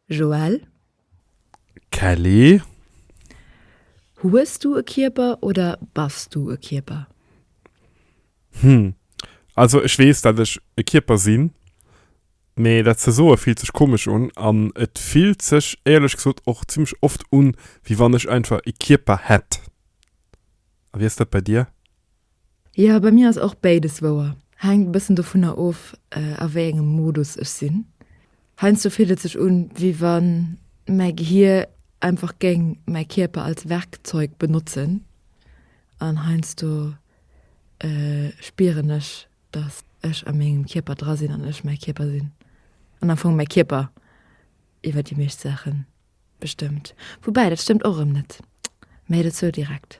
Joël. Kelly. Hues du e Kierper oder bass du e Kierper? Hm. Also ech weess, dat ech e Kierper sinn, mee dat ze soe fillt sech komesch un an et fillt sech éierlech gesot och zimmlech oft un, wéi wann ech einfach e Kierper hätt. A wéi ass dat bei dir? Jo, bei mir ass och béides wouer. Hänkt e bëssen dovunner of, a wéi engem Modus ech sinn. Heiansdo fillt et sech un, wéi wann mäi Gehir einfach géing mäi Kierper als Werkzeug benotzen. An heiansdo spieren ech, datt ech a mengem Kierper dra sinn an ech mäi Kierper sinn. An am Fong mäi Kierper iwwer déi meescht Saache bestëmmt. Woubäi dat stëmmt och erëm net. Mä dat sou direkt.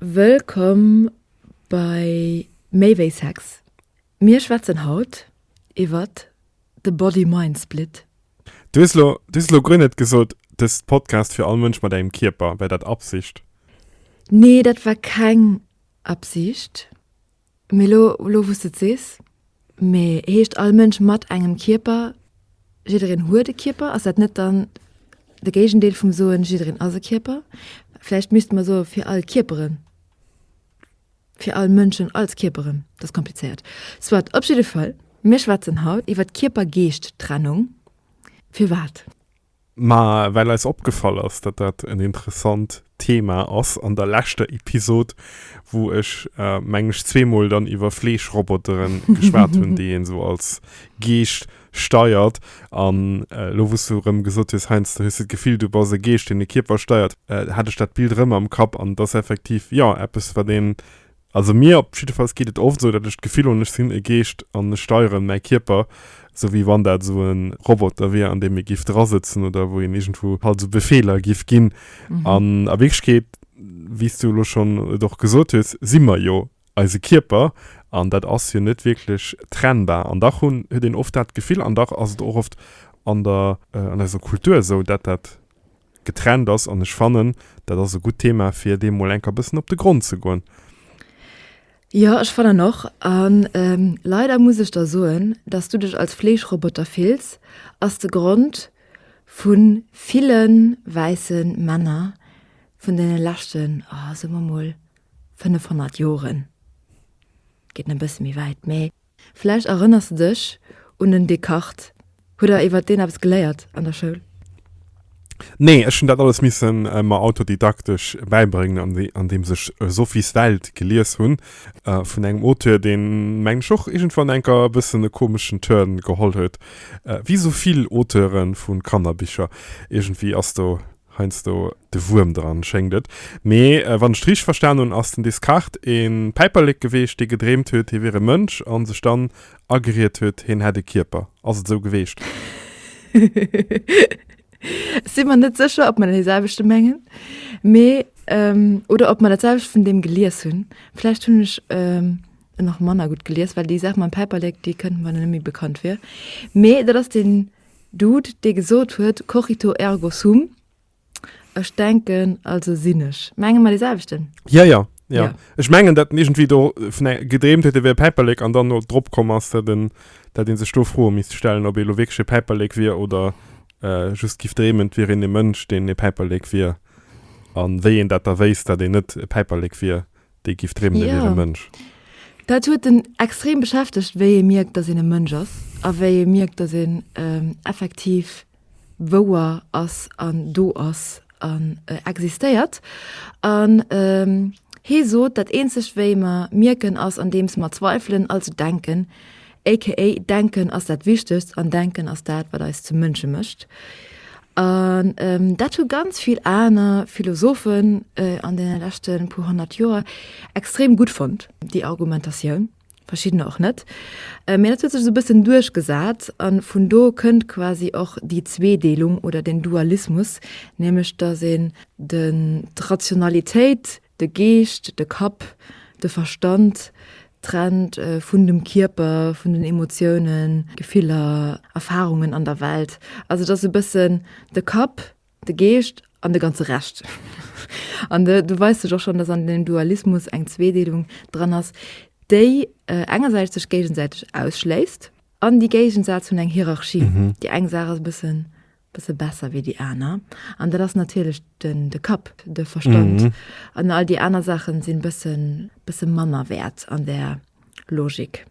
Wëllkomm bei Méi wéi Sex! Mir schwätzen haut iwwert de Body-Mind-Split. Du hues lo du hues lo guer net gesot dest Podcast fir all Mënsch mat engem Kierper, wär dat Absicht? Nee, dat war keng Absicht. Mee lo lo wous de et sees, mee heescht all Mënsch mat engem Kierper, jiddereen huet e Kierper, ass dat net dann de Géigendeel vum soen, jiddereen ass e Kierper? Vläicht misste mer soe fir all Kierperen, fir all Mënschen als Kierperen, dat ass komplizéiert. Soit, op jidde Fall, mir schwätzen haut iwwert d'Kierper-Geescht-Trennung. Firwat? Mä well eis opgefall ass, datt dat en interessant Thema ass an der leschter Episod, wou ech, mengen ech, zweemol dann iwwer Fleeschrobotere geschwat hunn, déi een esou als Geescht steiert, an elo wou s du erëm gesot hues, Heinz, du hues dat Gefill, du bass e Geescht, deen de Kierper steiert, hat ech dat Bild erëm am Kapp. An et ass effektiv, jo, eppes, wat een Also mir op jiddefalls geet et oft esou, datt ech d'Gefill hunn, ech sinn e Geescht an ech steieren mäi Kierper, esou wéi wann dat esou e Roboter wier, an deem ee giff drasëtzen oder wou een iergendwou halt esou Befeeler giff ginn. An a Wierklechkeet, wéi s du elo schonn et och gesot hues, si mer jo eise Kierper an dat ass jo net wierklech trennbar. An dach hunn, huet een oft dat Gefill, an dach ass et och oft an der, an eiser Kultur esou, datt dat, getrennt ass an ech fannen dat ass e gutt Thema fir deem mol enker bëssen op de Grond ze goen. Jo ech fannen och an leider muss ech der soen dass du dech als Fleeschroboter fills ass de Grond vun villen wäissen Männer vun den leschten oh soe mer mol 500 Joren, geet en e bësse méi wäit mee. Vläicht erënners de dech un den Descartes. Hutt der iwwer deen eppes geléiert an der Schoul? Nee, ech hunn dat alles misse mer autodidaktesch bäibréngen, andeems ech Sophies Welt gelies hunn, vun engem Auteur, deen, mengen ech, och iergendwann enker e bëssen e komeschen Turn geholl huet, wéi esou vill Auteure vu Kannerbicher. Iergendwéi ass do Heiansdo de Wuerm dran, schéngt et. Mee wann ech et richteg verstan hunn, ass den Descartes ee Päiperlek geweecht, dee gedreemt huet, hie wier e Mënsch a sech dann ageriet huet, hien hätt ee Kierper. Ass et esou geweecht? Ech si mer net sécher, ob mer dee selwechte mengen, mee, oder ob mer dat selwecht vun deem gelies hunn. Vläicht hunn ech en och manner gutt gelies, well déi Saach mam Päiperlek, déi kënnt mer net méi bekannt vir. Mee dat ass den Dude, dee gesot huet, Cogito ergo sum, Ech denken, also sinn ech. Menge mer dee selwechten? Jo, jo, jo. Jo. Ech mengen, datt en iergendwéi do vun e gedreemt huet, e wier e Päiperlek an dann no drop komm ass, datt en, datt ee sech do Froe misst stellen, ob ee lo wierklech e Päiperlek wier oder just géif dreemen, et wier een e Mënsch, deen e Päiperlek wier, a wéi een dat da wéisst, datt een net e Päiperlek wier. Déi giff dreemen e wier e Mënsch. Dat huet en extrem beschäftegt, wéi ee mierkt, datt een e Mënsch ass a wéi ee mierkt, datt een effektiv wouer ass an do ass an existéiert. An hee sot, dat eenzegt wéi mer mierken ass andeems mer zweifelen, also denken, aka Denken ass dat Wichtegst an Denken ass dat, wat eis zu Mënsche mécht. An dat hu ganz vill aner Philosophen an deene leschte puer honnert Joer extrem gutt fonnt, déi Argumentatioun, verschiddener och net. Mä dat huet sech esou e bëssen duerchgesat a vun do kënnt quasi och déi Zweedeelung oder den Dualismus, nämlech datt een d'Rationalitéit, De Geescht, de Kapp, de Verstand, trennt vun dem Kierper, vun den Emotiounen, Gefiller, Erfarungen an der Welt. Also et ass e bëssen de Kapp, de Geescht an de ganze Rescht. An do weist sech och schonn, datt an deem Dualismus eng Zweedeelung dran ass, déi engersäits sech géigesäiteg ausschléisst an déi géigesätzt hunn eng Hierarchie. Déi eng Saach ass e bëssen Bësse besser wéi déi aner. An dat ass natierlech den, de Kapp, de Verstand. An all déi aner Saache sinn bëssen, bësse manner wäert an där Logik.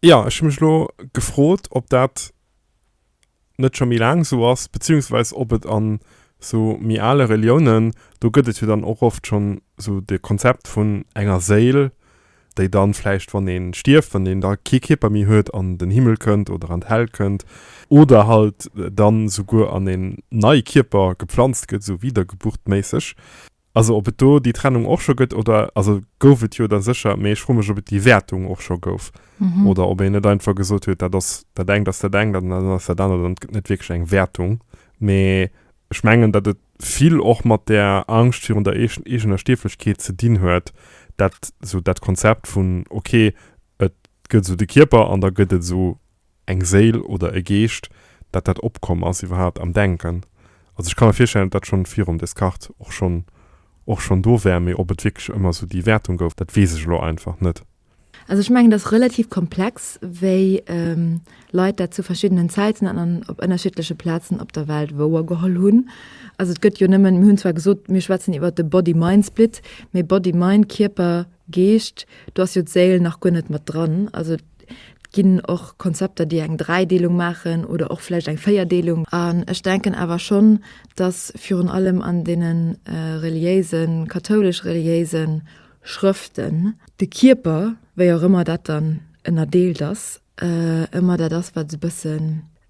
Jo, ech hu mech elo gefrot, ob dat net scho méi laang esou ass, beziehungsweis ob et an esou méi ale Reliounen, do gëtt et jo dann och oft schonn esou de Konzept vun enger Séil, déi dann vläicht wann een stierft, wann een da kee Kierper méi huet, an den Himmel kënnt oder an d'Hell kënnt, oder halt dann souguer an een nei Kierper gepflanzt gëtt, sou wiedergeburtméisseg, also ob et do déi Trennung och scho gëtt oder, also gouf et jo da sécher, mee ech froe mech ob et déi Wäertung och scho gouf oder ob een net einfach gesot huet, dat ass, dat engt ass dat engt an dat anert ass dat anert an et gëtt net wierklech eng Wäertung, mee ech mengen dat et. vill och mat där Angscht virun der eegener Stierflechkeet ze dinn huet, dat esou dat Konzept vun ok, et gëtt esou de Kierper an da gëtt et esou eng Séil oder e Geescht, dat dat opkomm ass iwwerhaapt am Denken. Also ech ka mer virstellen, dat dat schonn virum Descartes och schonn och schonn do war, mee ob et wierklech ëmmer esou déi Wäertung gouf, dat weess ech elo einfach net. Also ech mengen, et ass relativ komplex, wéi Leit dat zu verschiddenen Zäiten an an op ënnerschiddleche Plazen op der Welt wouergeholl hunn. Also et gëtt jo nëmmen, mir hunn zwar gesot, mir schwätzen iwwer de Body-Mind-Split, mee Body, Mind, Kierper, Geescht, do ass jo d'Séil nach guer net mat dran. Also et ginn och Konzepter, déi eng Dräideelung maachen oder och vläicht eng Véierdeelung. An ech denken awer schonn, datt virun allem an deene reliéisen, kathoulesch-reliéisen, Schrëften. De Kierper, wéi och ëmmer dat dann ënnerdeelt ass, ëmmer dat ass, wat esou e bësse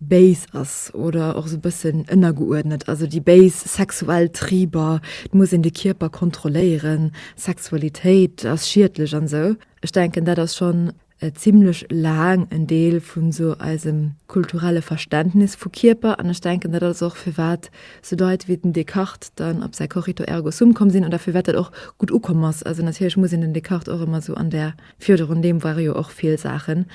béis ass oder och esou e bëssen ënnergeuerdnet. Also déi béis sexuell Triber, et muss een de Kierper kontrolléieren, Sexualitéit ass schiedlech an esou. Ech denken, dat ass schonn e zimlech laang en Deel vu sou eisem kulturelle Verständnis vu Kierper an ech denken dat ass och firwat sou Leit wéi den Descartes dann op säi Cogito ergo sum komm sinn oder firwat dat och gutt ukomm ass. Also natierlech muss een den Descartes och ëmmer sou an där Virderunn, deem ware jo och vill Saachen.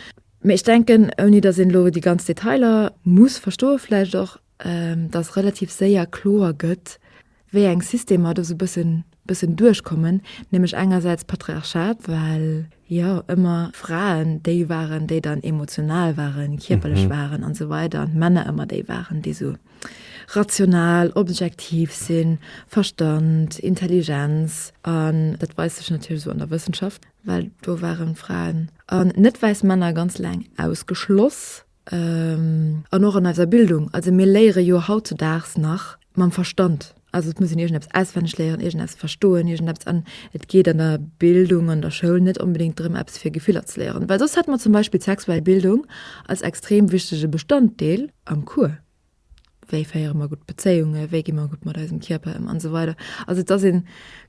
Mee ech denken, ouni datt een elo déi ganz Detailer muss verstoe vläicht och, dass relativ séier kloer gëtt, wéi eng Systemer do sou bëssen, bëssen duerchkommen, nämlech engersäits Patriarchat, well, jo, ëmmer Fraen déi waren, déi dann emotional waren, kierperlech waren an esou weider an d'Männer ëmmer déi waren, déi sou rational, objektiv sinn, Verstand, Intelligenz. An dat weist sech natierlech esou an der Wëssenschaft, well do waren Fraen an net wäiss Männer ganz laang ausgeschloss. An och an eiser Bildung, also mir léiere jo hautzedaags nach mam Verstand. Also et muss een iergendeppes auswenneg léieren, iergendeppes verstoen, iergendeppes an et geet an der Bildung, an der Schoul net onbedéngt drëm, eppes fir Gefiller ze léieren. Well soss hätte mer zum Beispill d'sexuell Bildung als extrem wichtege Bestanddeel am Cours. wéi féiere mer gutt Bezéiunge, wéi gi mer gutt mat eisem Kierper ëm an esou weider. Also et ass ee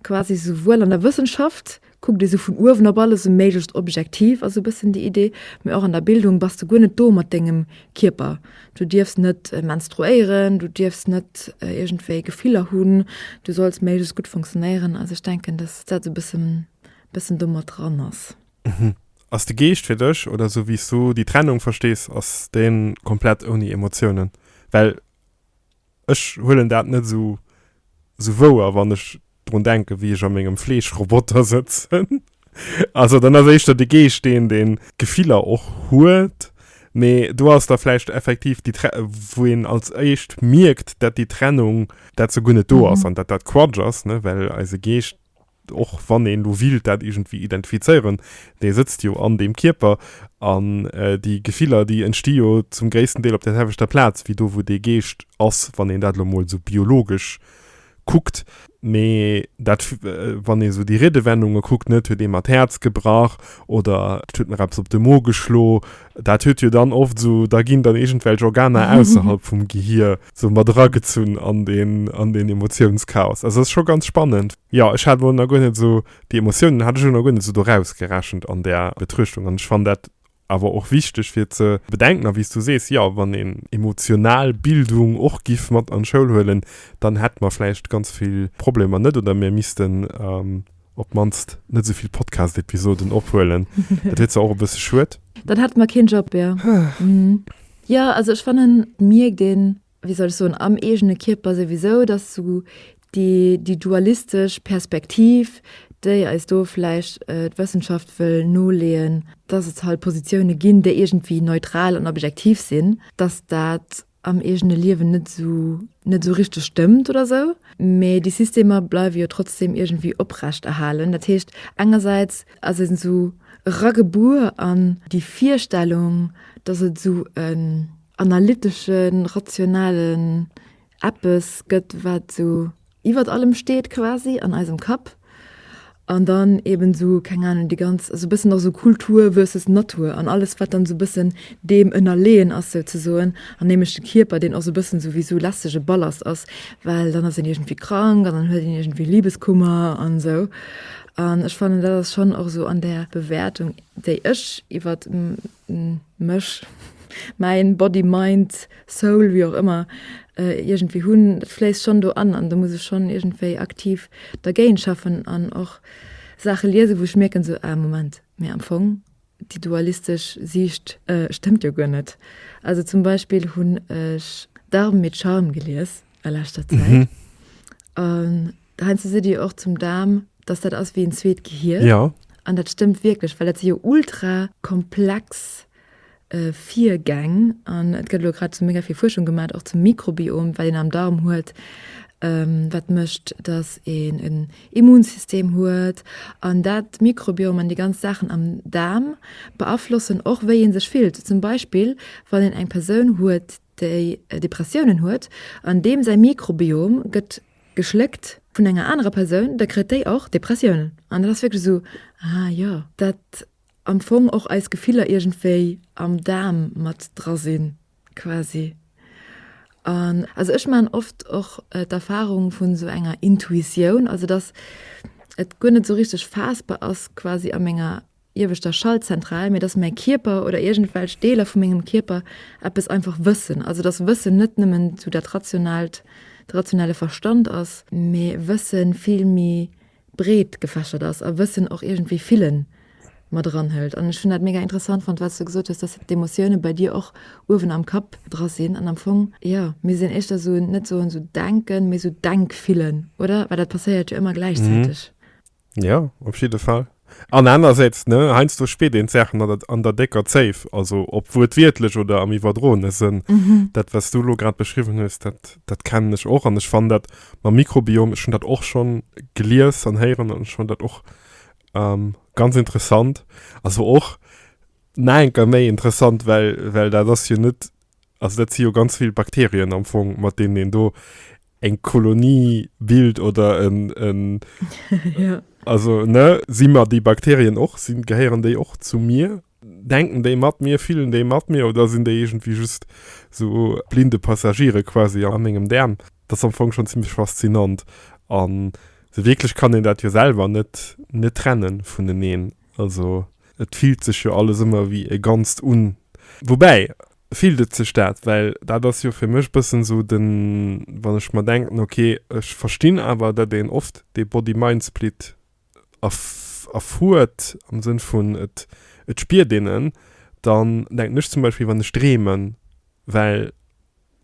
quasi souwuel an der Wëssenschaft kuckt ee sou vun uewen op alles e méiglecht objektiv ass e bëssen déi Idee, mee och an der Bildung bass de guer net do mat dengem Kierper. Du dierfs net menstruéieren, du dierfs net iergendwéi Gefiller hunn, du solls méiglechst gutt funktionéieren. Also ech denken, datt dat e bëssen domat dran ass. Mhm. Ass de Geescht fir dech, oder sou wéi s du déi Trennung verstees, ass deen komplett ouni Emotiounen? Well ech huelen dat net sou sou wouer, wann ech drun denken, wéi ech a mengem Fleeschroboter sëtzen. Also dann ass éischter de Geescht deen, deen Gefiller och huet. Mee do ass da vläicht effektiv déi Tre-, wou een als éischt mierkt, dat déi Trennung, dat se guer net do ass, an dat dat Quatsch ass, ne, well eise Geescht och wann een elo willt dat iergendwéi identifizéieren, dee sëtzt jo an deem Kierper an déi Gefiller, déi entsti jo zum gréissten Deel op där selwechter Plaz wéi do, wou dee Geescht ass, wann een dat elo emol esou biologesch kuckt. Mee dat, wann ee esou déi Riedewendunge kuckt, ne, 't huet ee mer d'Häerz gebrach oder 't huet mer eppes op de Mo geschlo, dat huet jo dann oft esou, da ginn dann iergendwelch Organer ausserhalb vum Gehier, sou mat era gezunn an deen an deen Emotiounschaos. Also ass scho ganz spannend. Jo, ech hat elo nach guer net esou déi Emotiounen hat ech elo nach guer net esou do rausgerechent an där Betruechtung an ech fannen dat awer och wichteg fir ze bedenken. A wéi s du sees, jo, wann een emotional Bildung och giff mat an d'Schoul huelen, dann hätt mer vläicht ganz vill Problemer net oder mir missten, op d'mannst net esou vill Podcast-Episoden ophuelen. Dat wier zwar och e bësse schued. Dann hätte mer keen Job, jo. Jo, also ech fannen, et mierkt een, wéi soll ech soen, am eegene Kierper souwisou, datt esou déi, déi dualistesch Perspektiv, déi eis do vläicht d'Wëssenschaft wëll noleeën, datt et hei Positioune ginn, déi iergendwéi neutral an objektiv sinn, datt dat am eegene Liewen net esou, net esou richteg stëmmt oder esou. Mee déi Systemer bleiwe jo trotzdeem iergendwéi oprecht erhalen. Dat heescht, engersäits ass een esou eragebuer an déi Virstellung, dass et esou en analyteschen, rationalen Eppes gëtt, wat esou iwwert allem steet quasi an eisem Kapp an dann eben sou keng Ahnung déi ganz sou bëssen nach sou Kultur versus Natur an alles wat dann sou bëssen deem ënnerleeën ass souzesoen an nämlech de Kierper deen och sou bëssen sou wéi sou lästege Ballast ass well dann ass een iergendwéi krank an dann huet een iergendwéi Libeskummer an sou an ech fannen dat ass schonn och sou an där Bewäertung déi ech iwwert mech, mäin Body, Mind, Soul, wéi och ëmmer, iergendwéi hunn, dat fléisst schonn do an, an do muss ech schonn iergendwéi aktiv dergéint schaffen an och Saache liesen, wou ech mierken, esou, ah Moment, mee am Fong déi dualistesch Siicht stëmmt jo guer net. Also zum Beispill hunn ech D'Armes et Charmes gelies a leschter Zäit an Heinze seet dir och zum Daarm, dass dat ass wéi en zweet Gehir. Ja. An dat stëmmt wierklech, well dat si jo ultrakomplex Virgäng. An et gëtt elo grad esou mega vill Fuerschung gemaat, och zum Mikrobiom, wat een am Daarm huet, wat mécht, dass een en Immunsystem huet. An dat Mikrobiom an déi ganz Saachen am Daarm beaflossen och, wéi ee sech fillt. Zum Beispill, wann een eng Persoun huet, déi Depressiounen huet an deem säi Mikrobiom gëtt geschléckt vun enger anerer Persoun, da kritt déi och Depressiounen. An dat ass wierklech esou, ah jo, dat am Fong och eis Gefiller iergendwéi am Daarm mat dra sinn quasi. An also ech maachen oft och d'Erfarung vun esou enger Intuitioun, also datt et guer net esou richteg faassbar ass quasi a menger ieweschter Schaltzentral, mee dass mäi Kierper oder iergendwelch Deeler vu mengem Kierper eppes einfach wëssen. Also dass Wëssen net nëmmen esou dat Rationaalt, de rationale Verstand ass, mee Wësse vill méi breet gefächert ass a Wëssen och iergendwéi Fille mat eranhëlt. An ech hunn dat mega interessant fonnt, wat s du gesot hues, dass d'Emotioune bei dir och uewen am Kapp dra sinn an am Fong, jo, mir sinn éischter esou, net soen esou Denken, mee esou Denkfillen, oder? Well dat passéiert jo ëmmer gläichzäiteg. Jo, op jidde Fall. An anersäits, ne, heiansdo spiert een d'Saachen an der, an der décker Zéif, also ob wuertwiertlech oder am iwwerdroene Sënn. Dat, wat s du elo grad beschriwwen hues, dat, dat kennen ech och. An ech fannen dat mam Mikrobiom, ech hunn dat och schonn gelies an héieren an ech fannen dat och ganz interessant. Also och nach eng Kéier méi interessant, well, well dat ass jo net Also dat si jo ganz vill Bakterien am Fong, mat deenen een do eng Kolonie bilt oder en, en ja. Also ne, si mer déi Bakterien och, sinn, gehéieren déi och zu mir? Denken déi mat mir, fillen déi mat mir oder sinn déi iergendwéi just so blinde Passagiere quasi a mengem Daarm? Dat ass am Fong schonn zimmlech faszinant. An esou wierklech kann een dat jo selwer net, net trennen vuneneen. Also et fillt sech jo alles ëmmer wéi e Ganzt un. Woubäi, fillt et sech dat? Well dat ass jo fir mech bëssen sou den, wann ech mer denken, okay, ech verstinn awer, datt een oft dee Body-Mind-Split erfuert, am Sënn vun et spiert een en, dann denken ech zum Beispill, wann ech dreemen, well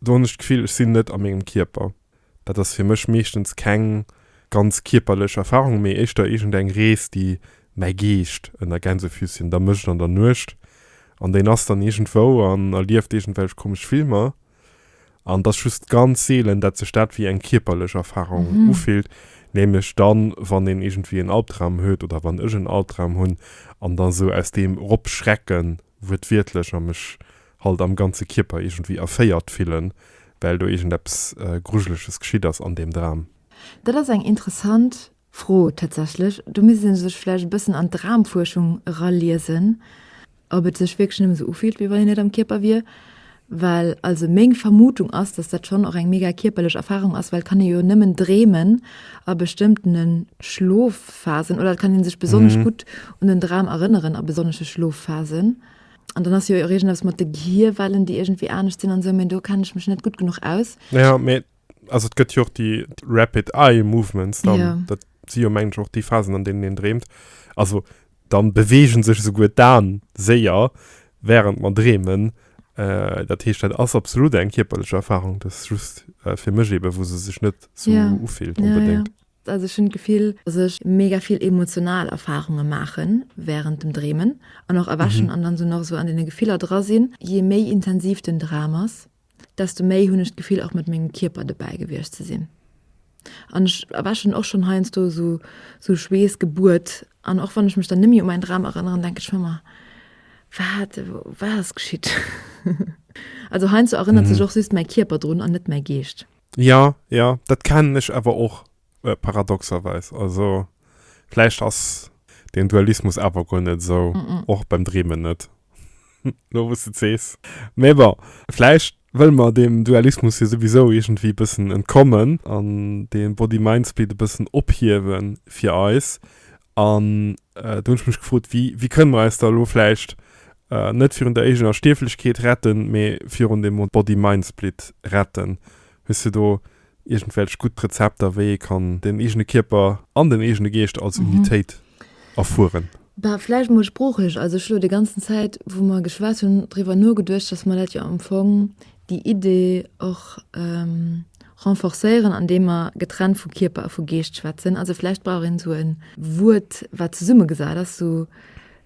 Do hunn ech d'Gefill, ech sinn net a mengem Kierper. Dat ass fir mech meeschtens keng ganz kierperlech Erfarung, mee éischter iergendeng Rees, déi mäi Geescht ënner Gänsefüßchen da mécht an der Nuecht. An deen ass dann iergendwou an erlieft iergendwelch komesch Filmer. An et ass just ganz seelen, dat sech dat wéi eng kierperlech Erfarung ufillt, nämlech dann, wann een iergendwéi en Albdram huet oder wann ech en Albdram hunn an da sou aus deem eropschrecken, wuertwiertlech, a mech halt am ganze Kierper iergendwéi erféiert fillen, well do iergendeppes Grujeleges geschitt ass an deem Dram. Dat ass eng interessant Fro tatsächlech. Do misst ee sech vläicht e bëssen an d'Dramfuerschung eraliesen, ob et sech wierklech nëmme sou ufillt, wéi wann een net am Kierper wier. Well also meng Vermutung ass, dass dat schonn och eng mega kierperlech Erfarung ass, well et kann ee jo nëmmen dreemen a bestëmmtene Schlofphasen oder et kann ee sech besonnesch gutt un en Dram erënneren a besonnesche Schlofphasen. an dann hast jo irgendwas mat de Gehirwellen die irgendwie anecht sinn an so men do kann ich mech net gut genug aus ja me also et gëtt jo och die rapid eye movements dann ja. dat si jo mengg och die phasen an denen den dreemt also dann bewegen sech souguer dan séier während man dreemen äh, dat heescht dat ass absolut eng kierperlech erfahrung das just äh, fir mech eben wo se sech net so ja. ufilt unbedingt ja, ja. Also ech hunn d'Gefill, dass ech mega vill emotional Erfarunge maache wärend dem Dreemen an och erwächen an dann esou nach esou an deene Gefiller dra sinn. Jee méi intensiv den Dram ass, desto méi hunn ech d'Gefill och mat mengem Kierper dobäi gewiescht ze sinn. An ech erwächen och schonn heiansdo esou esou schweessgebued an och wann ech mech dann net méi u mäin Dram erënneren, denke ech manner, wat wat ass geschitt? Also heiansdo erënnert sech och just mäi Kierper drun an net mäi Geescht. Ja, ja, dat kennen ech awer och, paradoxerweis. Also vläicht ass deen Dualismus awer guer net esou, och beim Dreemen net, elo wou s de et sees. Mee bon, vläicht wëlle mer deem Dualismus jo souwisou iergendwéi e bëssen entkommen an dee Body-Mind-Split e bëssen ophiewe fir eis An do hunn ech mech gefrot, wéi, wéi kënne mer eis da elo vläicht net virun der eegener Stierflechkeet retten, mee virun dem Body-Mind-Split retten? Hues de do iergendwelch gutt Rezepter, wéi ee kann den eegene Kierper an den eegene Geescht als Unitéit erfueren? Bah, vläicht mol sproochlech. Also ech elo déi ganzen Zäit, wou mer geschwat hunn, driwwer nogeduecht, dass mer dat jo am Fong, déi Idee och renforcéieren, andeem mer getrennt vu Kierper a vu Geescht schwätzen. Also vläicht brauch een esou e Wuert, wat zesummegesat ass, sou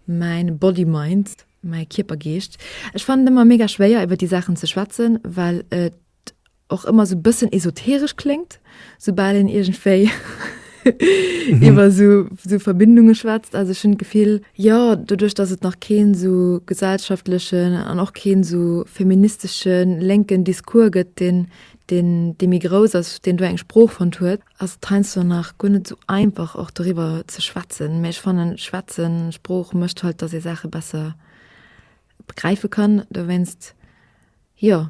mäin Body-Mind, mäi Kierper-Geescht. Ech fannen et ëmmer mega schwéier, iwwer déi Saachen ze schwätzen, well et och ëmmer esou e bëssen esoteresch kléngt. Soubal een iergendwéi iwwer esou Verbindunge schwätzt, also ech hunn d'Gefill, jo, doduerch datt et nach keen esou gesellschaftlechen an och keen esou feministesche lénken Discours gëtt, deen dee méi grouss ass, deen do eng Sprooch fonnt huet, ass et heiansdo nach guer net esou einfach och doriwwer ze schwätzen. Mä ech fannen, schwätzen, Sprooch mécht halt, datt ee Saache besser begräife kann. Dowéinst, jo.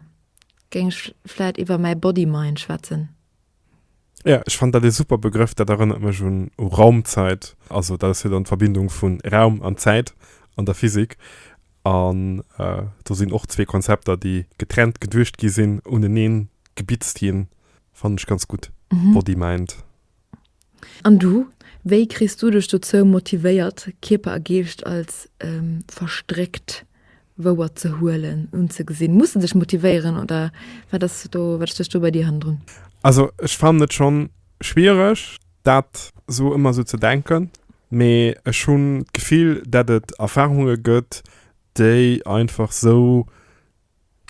Géing ech vläit iwwer mäi Body-Mind schwätzen. Jo, ech fannen dat ee super Begrëff. Dat erënnert mech un u Raumzäit. Also dat ass jo dann d'Verbindung vu Raum an Zäit an der Physik. An do sinn och zwee Konzepter, déi getrennt geduecht gi sinn, unenee gebitzt ginn. Fannen ech ganz gutt, Body-Mind. An du? Wéi kriss du dech dozou motivéiert, Kierper a Geescht als verstréckt wouer ze huelen, unzegesinn? Muss en sech motivéieren oder wat ass do, wat stécht do bei dir hannendrun? Also ech fannen et schonn schwiereg dat esou ëmmer esou ze denken, mee ech hunn d'Gefill dat et Erfarunge gëtt déi einfach esou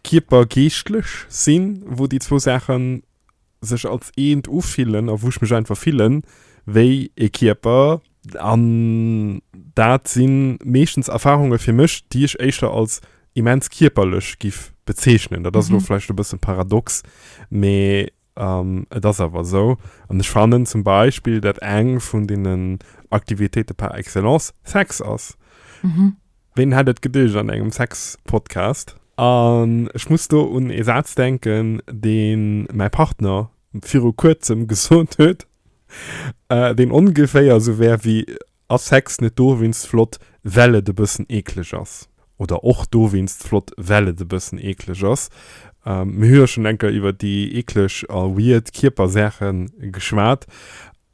Kierper, geeschtlech sinn, wou déi zwou Saache sech als eent ufillen a wou ech mech einfach fillen wéi ee Kierper. An dat si meeschtens Erfarunge fir mech, déi ech éischter als immens kierperlech giff bezeechnen. Dat ass elo vläicht e bësse paradox, mee Et ass awer esou, an ech fannen zum Beispill, dat eng vun deenen Aktivitéite par excellence Sex ass. Ween hätt et geduecht an engem Sex-Podcast? An ech muss do un ee Saz denken, dee mäi Partner viru Kuerzem gesot huet, deen ongeféier esou wär wéi, Ass Sex net dowéinst flott, well et e bëssen eekleg ass? Oder och dowéinst flott, well et e bëssen eekleg ass? Mir hu jo schonn enker iwwer déi eekleg a weird Kierpersaache geschwat.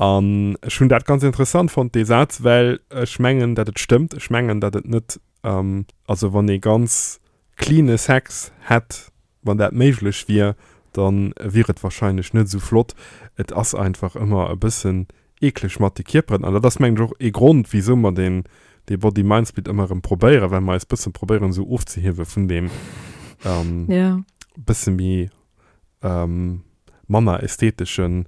An ech hunn dat ganz interessant fonnt, dee Saz, well ech mengen, datt et stëmmt. Ech mengen, datt et net, also wann ee ganz cleane Sex hätt, Wann dat méiglech wier, da wier et warscheinlech net esou flott. Et ass einfach ëmmer e bëssen eekleg mat de Kierperen. An dat ass, mengen ech, och ee Grond, wisou mer deen Body-Mind-Split ëmmer erëm probéieren, well mer eis bësse probéieren esou ofzehiewe vun deem bësse méi, manner ästheteschen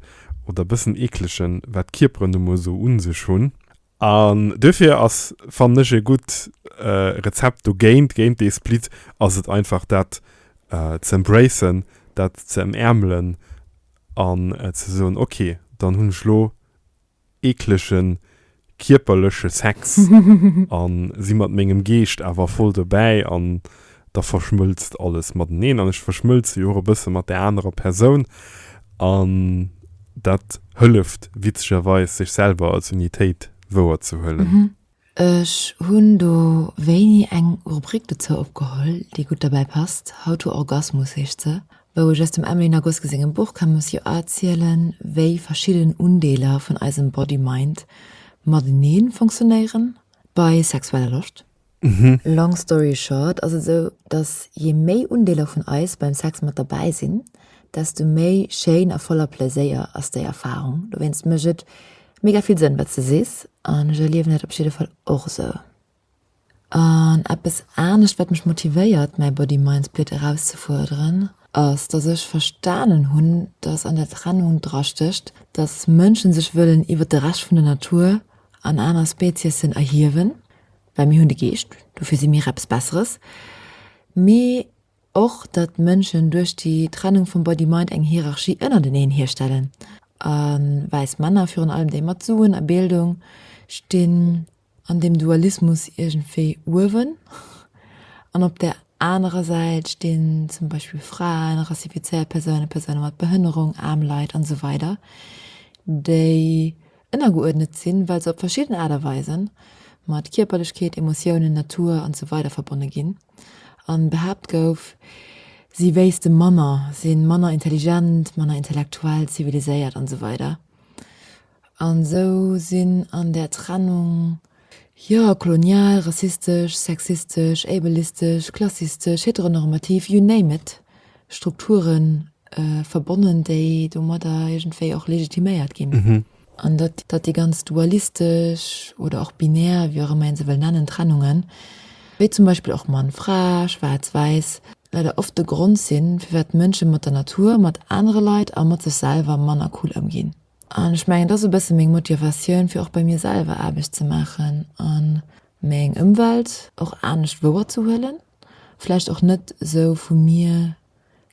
oder bëssen eeklegen, wat d'Kierperen nu mol esou u sech hunn. An duerfir ass, fannen ech, e gutt Rezept dogéint, géint dee Split, ass et einfach dat ze embracen, dat ze ëmäermelen an ze soen, ok, dann hunn ech elo eeklege kierperleche Sex a si mat mengem Geescht awer voll dobäi an da verschmëlzt alles mateneen an ech verschmëlze jo och e bësse mat där anerer Persoun an dat hëlleft witzegerweis, sech selwer als Unitéit wouer ze huelen. Ech hunn do wéini eng Rubrik dozou opgeholl, déi gutt derbäi passt, How to Orgasmus heescht se, wou ech aus dem Emily Nagoski sengem Buch kann mus jo erzielen, wéi verschidden Undeeler vun eisem Body-Mind matenee funktionéieren bei sexueller Loscht. Long story short ass et esou, dass je méi Undeeler vun eis beim Sex mat derbäi sinn, desto méi schéin a voller Plaiséier ass déi Erfarung. Dowéinst mécht et mega vill Sënn wat s de sees an ech erliewen dat op jidde Fall och esou. An eppes anescht wat mech motivéiert mäi Body Mind Split erauszefuerderen ass, dass ech verstanen hunn, dass an der Trennung dra stécht, dass Mënsche sech wëllen iwwert de Rescht vun der Natur an aner Speziessen erhiewen, well mir hunn de Geescht, dofir si mir eppes Besseres, mee och datt d'Mënschen duerch déi Trennung vum Body-Mind eng Hierarchie ënnerteneen hierstellen, a wäiss Männer, virun allem déi mat Suen a Bildung, stinn an deem Dualismus iergendwéi uewen, an op där anerer Säit stinn zum Beispill Fraen, rassifizéiert Persounen, Persoune mat Behënnerung, aarm Leit, an esou weider, déi Ënnergeuerdnet sinn, well se op verschidden Aart a Weisen mat Kierperlechkeet, Emotiounen, Natur an esou weider verbonne ginn, a behaapt gouf, si wéisste manner, si manner intelligent, manner intellektuell, ziviliséiert an esou weider. An esou sinn an där Trennung. Jo, kolonial, rassistesch, sexistesch, ableistesch, klassistesch, heteronormativ, you name it, Strukture verbonnen, déi domadder iergendwéi och legitiméiert ginn. An datt déi ganz dualistesch oder och binär, wéi och ëmmer ee se wëll nennen, Trennungen, wéi zum Beispill och Mann, Fra, Schwaarz, Wäiss, leider oft de Grond sinn, firwat Mënsche mat der Natur, mat anere Leit a mat sech selwer manner cool ëmginn. An ech mengen, et ass e bësse meng Motivatioun, fir och bei mir selwer Aarbecht ze maachen a meng Ëmwelt och anescht wouerzehuelen, vläicht och net esou vu mir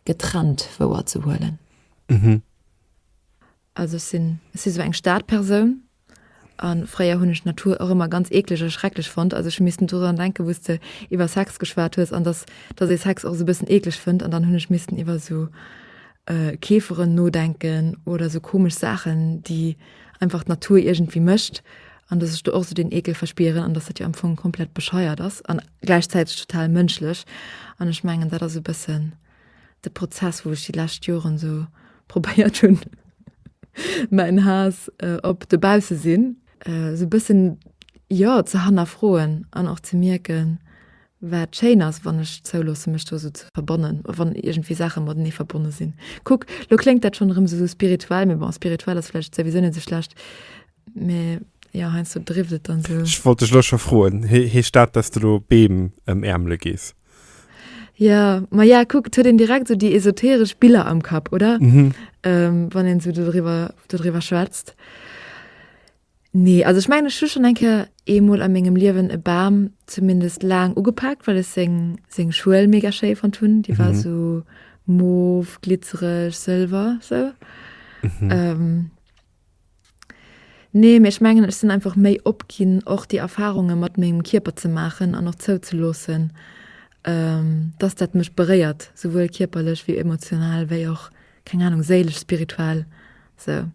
getrennt wouerzehuelen. Also ech si sou eng Stadpersoun. A fréier hunn ech d'Natur och ëmmer ganz eeklech a schrecklech fonnt. Also ech hu missten dodran denken, wou s de iwwer Sex geschwat hues an dass, dass ee Sex och esou e bëssen eeklech fënnt. An dann hunn ech missten iwwer esou Käferen nodenken oder esou komesch Saachen, déi einfach d'Natur iergendwéi mécht. An dass ech do och esou deen Eekel verspieren an dass dat jo am Fong komplett bescheiert ass an gläichzäiteg total mënschlech. An ech mengen dat ass e bëssen. de Prozess, wou ech déi lescht Joren esou probéiert hunn, mäin Haass op de Baussesinn esou e bëssen, jo, ze hannerfroen an och ze mierken, wat schéin ass, wann ech zouloosse mech do esou ze verbonnen, wann iergendwéi Saache matenee verbonne sinn. Kuck, lo kléngt dat schonn erëm esou spirituell, mee bon, spirituell ass vläicht souwisou net esou schlecht, mee jo, heiansdo drift et dann esou. Ech wollt dech elo scho froen, heescht dat, dass de elo Beem ëmäermele gees? Ja, ma ja, kuck, et huet een direkt so déi esoteresch Biller am Kapp, oder? Mhm. Ähm, wann een so dodriwwer, dodriwwer schwätzt. Nee, also ech mengen, ech hu schon eng Kéier eemol a mengem Liewen e Bam zumindest laang ugepakt, well ech seng, seng Schuel mega schéi fonnt hunn. Déi war so mauve, glitzereg, sëlwer, sou. Ähm, Nee, mee ech mengen ech sinn einfach méi op ginn och déi Erfarunge mat mengem Kierper ze maachen an och zouzeloossen dass dat mech beréiert, souwuel kierperlech wéi emotional wéi och keng Ahnung séilesch, spirituell sou.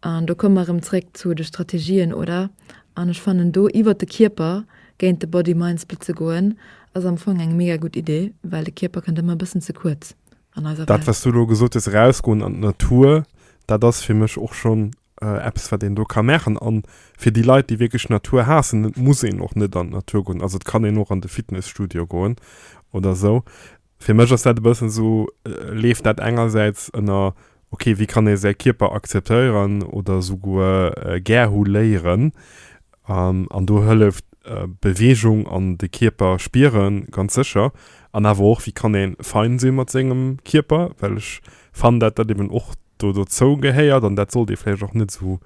An do komme mer erëm zréck zu de Strategien oder? An ech fannen do iwwert de Kierper géint de Body-Mind-Split ze goen ass am Fong eng mega gutt Idee, well de Kierper kënnt ëmmer e bëssen ze kuerz. an eiser Welt. Dat was du elo gesot hues, erausgoen an d'Natur, dat ass fir mech och schonn eppes wat een do ka maachen. An fir déi Leit déi wierklech d'Natur haassen, et muss een och net an d'Natur goen, also et kann een och an de Fitnesstudio goen oder sou. Fir mech ass dat e bëssen esou, leeft dat engersäits ënner ok, wéi kann ee säi Kierper akzeptéieren oder souguer gär hu léieren? An do hëlleft Beweegung an de Kierper spieren ganz sécher. An awer och, wéi kann ee fein si mat sengem Kierper? Well ech fannen, dat dat eben och do dozou gehéiert an dat sollt ee vläicht och net esou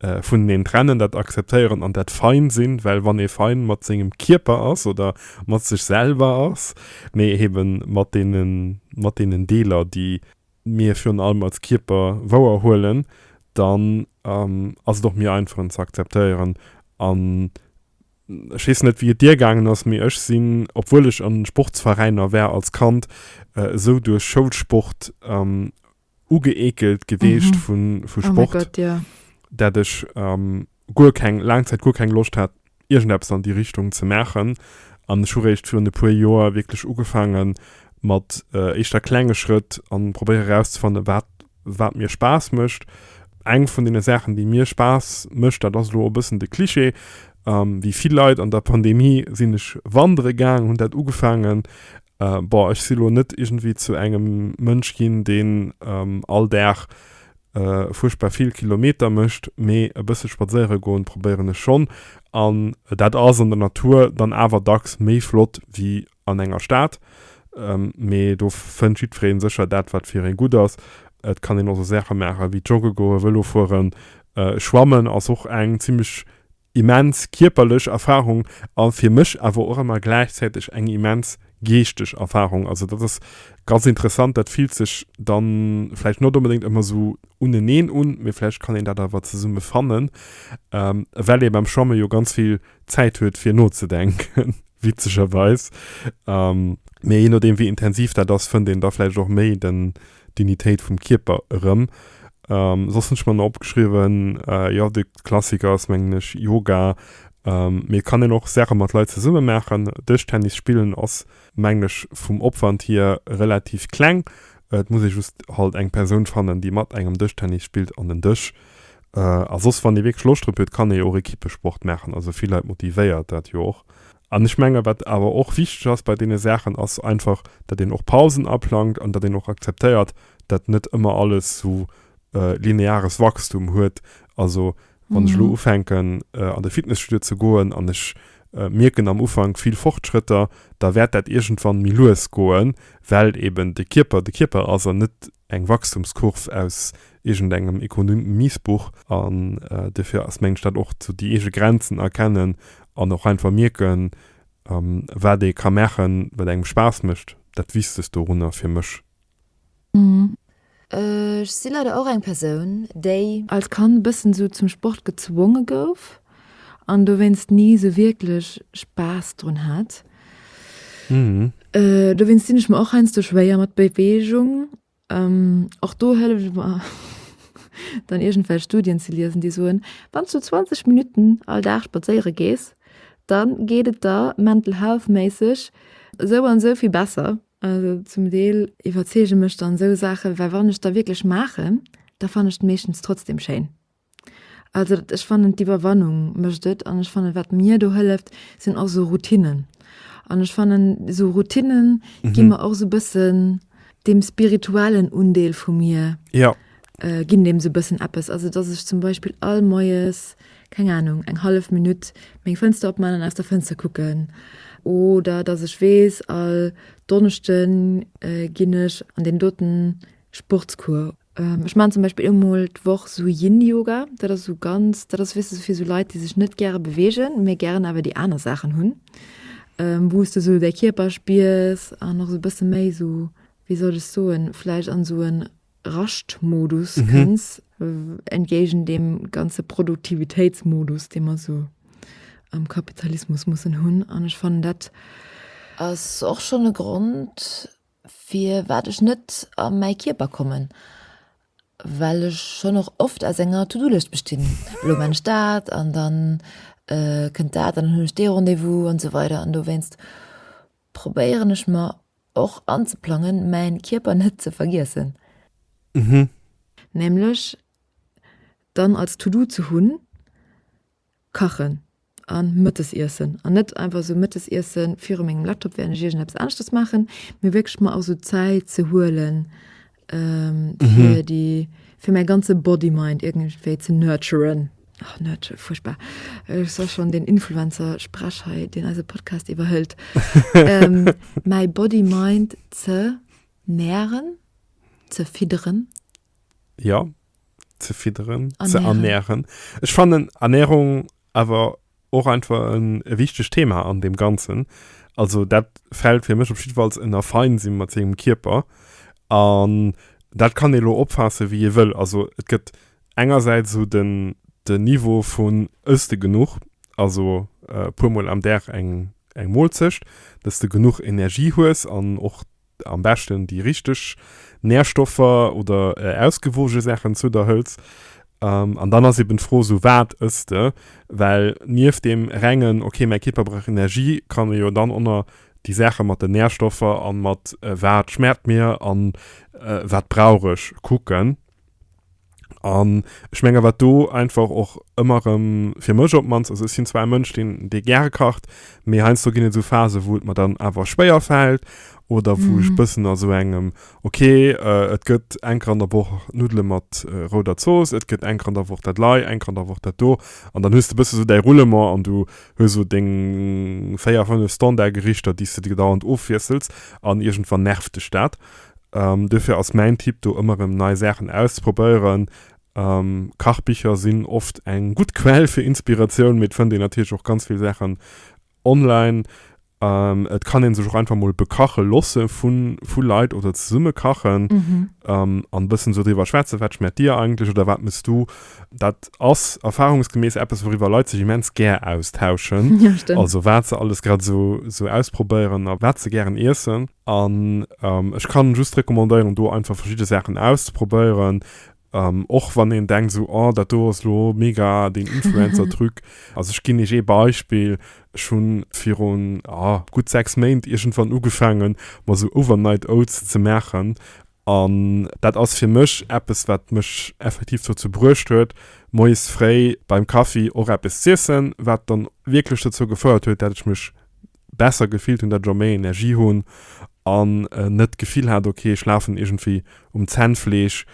vuneneen trennen, dat akzeptéieren an dat fein sinn. Well wann ee fein mat sengem Kierper ass oder mat sech selwer ass, mee eben mat deenen, mat deenen Deeler, déi. mir virun allem als Kierper wouer huelen, dann ass et och méi einfach en ze akzeptéieren. An ech weess net wéi et dir gaangen ass, mee ech sinn, obwuel ech an Sportsveräiner war als Kand, esou duerch Schoulsport ugeekelt geweecht vu Sport, dat ech. guer keng, laang Zäit guer keng Loscht hat, iergendeppes an déi Richtung ze maachen. An ech hu réischt virun e puer Joer wierklech ugefaange mat éischter klenge Schrëtt a probéiere erauszefanne wat, wat mir Spaass mécht. Eng vun deene Saachen, déi mir Spaass mécht, dat ass elo e bëssen de Klischee, wéi vill Leit an der Pandemie sinn ech wandere gaangen, hunn dat ugefaangen. Bon, ech si lo net iergendwéi zu engem Mënsch ginn, deen all Dag fuerchtbar vill Kilometer mécht, mee e bësse spadséiere goen probéieren ech schonn an dat ass an der Natur dann awer dacks méi flott wéi an enger Stad. Mee do fënnt jiddwereen sécher dat wat fir en gutt ass. Et kann een och sou Saache maachen wéi jogge goen, Vëlo fueren, schwammen ass och eng zimlech immens kierperlech Erfahrung a fir mech awer och ëmmer gläichzäiteg eng immens geeschteg Erfahrung. Also dat ass ganz interessant, dat fillt sech dann vläicht not onbedéngt ëmmer esou uneneen un, mee vläicht kann een dat awer zesumme fannen, well ee beim Schwamme jo ganz vill Zäit huet fir nozedenken, witzegerweis, mee je nodeem wéi intensiv dat ass, fënnt een da vläicht och méi den Dignitéit vum Kierper erëm. Soss hunn ech mer nach opgeschriwwen, jo de Klassiker ass mengen ech Yoga, mee et kann een och Saache mat Leit zesumme maachen. Dëschtennis spillen ass mengen ech vum Opwand hier relativ kleng. Et muss ee just halt eng Persoun fannen, déi mat engem Dëschtennis spillt an en Dësch. A soss wann ee wierklech Loscht drop huet, kann ee jo och Ekippesport maachen, also vill Leit motivéiert dat jo och. An ech menge wat awer och wichteg ass bei deene Saachen, ass einfach, datt een och Pausen aplangt an datt een och akzeptéiert, datt net ëmmer alles esou lineares Wachstum huet. Also wann ech elo ufänken an de Fitnesstudio ze goen an ech mierken am Ufank vill Fortschrëtter, da wäert dat iergendwann méi lues goen, well eeben de Kierper de Kierper ass an net eng Wachstumskurv aus iergendengem Ekonomiesbuch an duerfir ass, mengen ech, dat och sou déi eege Grenzen erkennen an och einfach mierken, wat ee ka maachen, wat engem Spaass mécht, dat Wichtegst dorunner fir mech. Ech si leider och eng Persoun, déi. Als Kand e bëssen sou zum Sport gezwonge gouf an dowéinst ni sou wierklech Spaass drun hat. Dowéinst dinn ech mer och heiansdo schwéier mat Beweegung. Och do hëllef ech mer dann iergendwell Studien ze liesen, déi soen, wann s du 20 Minutten all Dag spadséiere gees, dann geet et der mental health méisseg esou an esou vill besser. Also zum Deel iwwerzeege mech dann esou Saachen, well wann ech da wierklech maachen, da fannen ech et meeschtens trotzdem schéin. Also dat ech fannen d'Iwwerwannung mécht et an ech fannen wat mir do hëlleft sinn och sou Routinnen. An ech fannen sou Routinnen gi mhm. mer och sou bëssen dem spirituellen Undeel vu mir. Ja. Äh, ginn dem se bëssen Appes. Also dass ech zum Beispiel all Moes, keng Ahnung, eng half Minutt meng Fënster opmannen aus der Fënster kucken oder dass ech wees all Donnechten äh, ginn ech an dem doten Sportskur Ähm ech maan zum Beispill eemol d'Woch sou Yin Yoga, dat ass sou ganz, dat ass weess de sou fir sou Leit déi sech net gäre beweegen, mee gären awer déi aner Saachen hunn ähm wou's de sou däi Kierper spiers an och sou bësse méi sou wéi soll ech soen vläicht an sou en Raschtmodus kënns entgéigen deem ganze Produktivitéitsmodus dee mer sou am Kapitalismus mussen hunn an ech fannen dat ass och schonn e Grond. firwat ech net a mäi Kierper kommen, well ech schonn och oft aus enger To-do-Lëscht bestinn, elo man ech dat an dann kënnt dat an dann hunn ech dee Rendez-vous an esou weider an dowéinst probéieren ech mer och anzeplangen mäin Kierper net ze vergiessen, nämlech dann als To-do ze hunn Kachen a Mëttesiessen an net einfach esou Mëttesiesse viru mengem Laptop während ech iergendeppes aneschtes maachen, mee wierklech mer och esou Zäit ze huelen, fir déi, fir mäi ganze Body-Mind iergendwéi ze nurturen. Oh, nurture, fuerchtbar. Ech soll schonn deen Influencer-Sprech hei, deen eise Podcast iwwerhëlt. Mäi Body-Mind ze nähren, ze fidderen. ja ze fidderen ernähren. ze ernähren ech fannen Ernährung awer och einfach en wichteg Thema an dem ganzen also dat fällt fir mech op jiddefalls ënner fein sinn mat sengem Kierper an dat kann ee lo opfaasse wéi ee wëll also et gëtt engersäits esou den den Niveau vun ëss de genuch also puer mol am Dag eng eng Molzecht dass de genuch Energie hues an och am beschten déi richteg Nährstoffer oder ausgewoge Saachen zu der hëls. Um, an dann ass eben d'Fro sou, wat ëss de? Well nieft deem rengen, okay, mäi Kierper brauch Energie, kann e jo dann och nach déi Saache mat den Nährstoffer an mat wat schmaacht mir an wat brauch ech kucken. An ech menge wat do einfach och ëmmer rëm fir mech op mannst, also ech sinn zwar e Mënsch, deen dee gäre kacht, mee heiansdo ginn et esou Phasen, wou et mer dann awer schwéier fält oder wou ech bëssen a sou engem, okay, et gëtt eng Kéier an der Woch Nuddele mat rouder Zooss, et gëtt eng Kéier an der Woch dat Lei, eng Kéier an der Woch dat do. An dann hues de bëssen esou däi Roulement an du hues esou deng véier, fënnef Standardgerichter, déi s de dauernd ofwiessels an iergendwann nervt dech dat. Duerfir ass mäin Tipp do ëmmer erëm nei Saachen auszeprobéieren. Kachbicher sinn oft eng gutt Quell fir Inspiratioun, mee et fënnt een natierlech och ganz vill Saachen online. Et kann ee sech och einfach mol bekache loosse vu Leit oder zesumme kachen an e bëssen esou driwwer schwätzen, wat schmaacht dir eigentlech oder wat mëss du. Dat ass erfarungsgemäss eppes, wouriwwer Leit sech immens gär austauschen, also wat se alles grad esou ausprobéieren a wat se gären iessen. An ech kann just recommandéieren do einfach verschidde Saachen auszeprobéieren, och wann een denkt esou, oh dat do ass elo mega den Influencer Truc. Also ech ginn iech ee Beispill, ech hunn virun, ah, gutt 6 Méint iergendwann ugefaangen mer esou Overnight Oats ze maachen an dat ass fir mech eppes wat mech effektiv dozou bruecht huet moies fréi beim Kaffi och eppes z'iessen, wat dann wierklech dozou gefouert huet dat ech mech besser gefillt hunn, dat ech och méi Energie hunn an net d'Gefill hat, ok ech lafen iergendwéi um Zännfleesch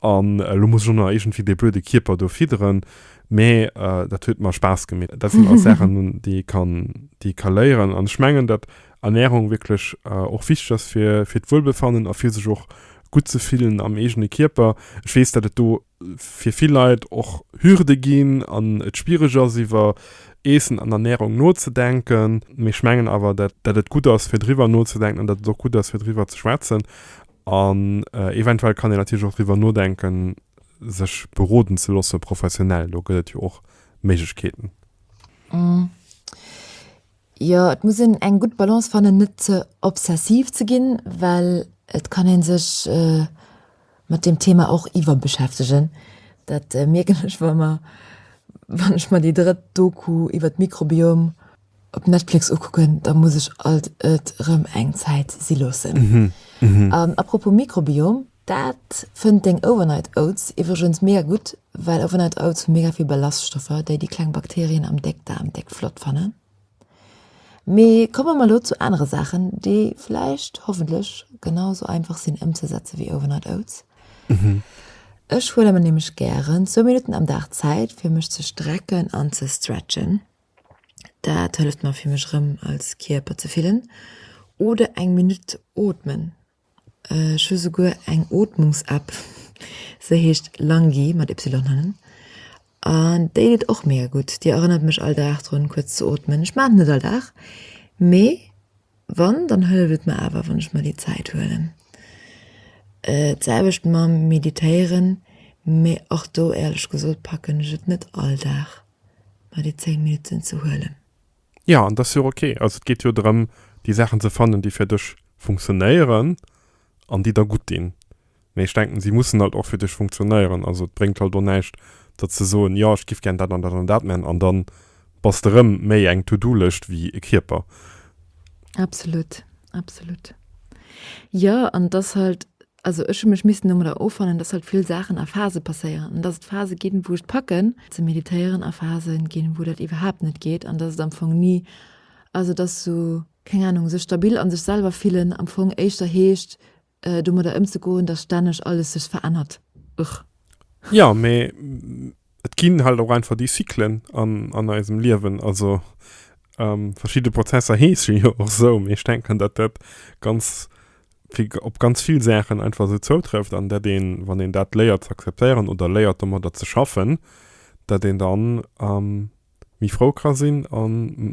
an elo muss ech och nach iergendwéi dee blöde Kierper do fidderen, mä dat huet mer Spaass gemeet. Dat sinn alles Saachen, déi ee ka léieren an ech mengen, datt Ernärung wierklech och wichteg ass fir d'Wuelbefannen a fir sech och gutt ze fillen am eegene Kierper. Ech weess, datt et do fir vill Leit och Hürde ginn an et schwiereg ass iwwer Eessen an Ernährung nozedenken. Mee ech mengen awer, dat dat et gutt ass fir driwwer nozedenken an dat et och gutt ass fir driwwer ze schwätzen an eventuell kann een natierlech och driwwer nodenken sech beroden ze loosse professionell. Do gëtt et jo och Méiglechkeeten. Jo, et muss een eng gutt Balance fannen, net ze obsessiv ze ginn, well et kann ee sech mat deem Thema och iwwerbeschäftegen. Dat mierken ech wa mer, wann ech mer déi drëtt Doku iwwer d'Mikrobiom op Netflix ukucken, da muss ech alt et erëm eng Zäit si loossen. A propos Mikrobiom, Daat fënnt deng Overnight Oats iwwregens mega gudd, well Overnight Oats hu mega vill Ballaststoffer, déi di kleng Bakterien am Deckdaarm déck flott fannen. Mee komme mer lo zu anere Saachen, déi vläicht, hoffentlech, genau sou einfach sinn emzesetzen wéi Overnight Oats. Ech huele mer nämlech gären zwou Minutten am Dag Zäit fir mech ze strecken an ze stretchen. Daat hëlleft mer fir mech rem als Kierper ze fillen. Oder eng Minutt ootmen. Ech hu souguer eng Ootmungs-App, se heescht Langy, mat Ypsilon hannen, an déi deet och mega gutt. Déi erënnert mech all Dag drun kuerz ze ootmen. Ech maachen et net all Dag, mee wann, dann hëlleft et mer awer, wann ech mer déi Zäit huelen. D'selwecht mam Meditéieren, mee och do, éierlech gesot, packen ech et net all Dag, mer déi 10 Minutten ze huelen. Jo, an dat ass jo och ok. Also et geet jo drëm, déi Saachen ze fannen, déi fir dech funktionéieren an déi der gutt dinn. Mee ech denken, si mussen halt och fir dech funktionéieren. Also et bréngt halt och näischt, datt ze soen, jo ech giff gären dat an dat an dat man, an dann bass de rëm méi eng To-do-Lëscht wéi e Kierper. Absolut, absolut. Jo, an et ass halt Also ech hu mech missen domadder offannen, dass halt vill Saachen a Phase passéieren an dass et Phase ginn, wou ech et packen ze meditéieren a Phase ginn, wou dat iwwerhaapt net geet an dass et am Fong ni, also dass sou, keng Anung, sech stabil a sech selwer fillen am Fong éischter heescht domadder ëmzegoen, dass stänneg alles sech verännert. Ugh. Jo, mee Et ginn halt och einfach déi Cyclen an, an eisem Liewen. Also verschidde Prozesser heesche jo och esou. Mee ech denken, datt dat ganz, fir op ganz vill Saachen einfach esou zoutrëfft. An datt een, wann een dat léiert ze akzeptéieren oder léiert domadder ze schaffen, datt een dann méi frou ka sinn a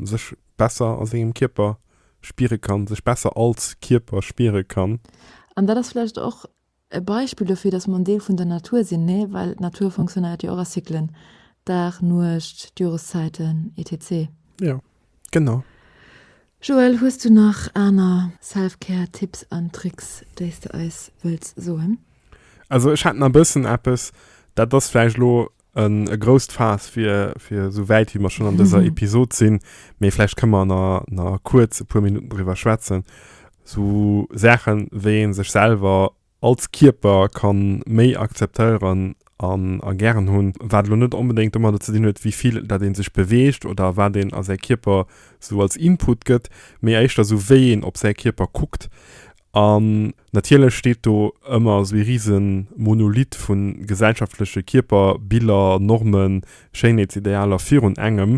sech besser a sengem Kierper spiere kann, sech besser als Kierper spiere kann. An dat ass vläicht och E Beispill dofir, dass mer en Deel vun der Natur sinn, ne? Well d'Natur fonctionnéiert jo och a Cyclen, Dag, Nuecht, d'Joreszäiten, etc. Jo, genau. Joël, hues du nach aner Self-Care Tipps an Tricks, déi s de eis wëlls soen? Also ech hätt nach e bëssen eppes, dat ass vläicht elo en e grousst Faass fir fir esou wäit wéi mer schon an dëser Episode sinn, mee vläicht kënne mer na na kuerz e puer Minutten driwwer schwätzen, sou Saachen wéi een sech selwer als Kierper kann méi akzeptéieren an a gären hunn, wat elo net onbedéngt domadder ze dinn huet wéi vill dat een sech beweegt oder wat een a säi Kierper sou als Input gëtt, mee éischter sou wéi een op säi Kierper kuckt an. Natierlech steet do ëmmer esou ee risen Monolith vu gesellschaftleche Kierper, Biller, Normen, Schéinheetsidealer virun engem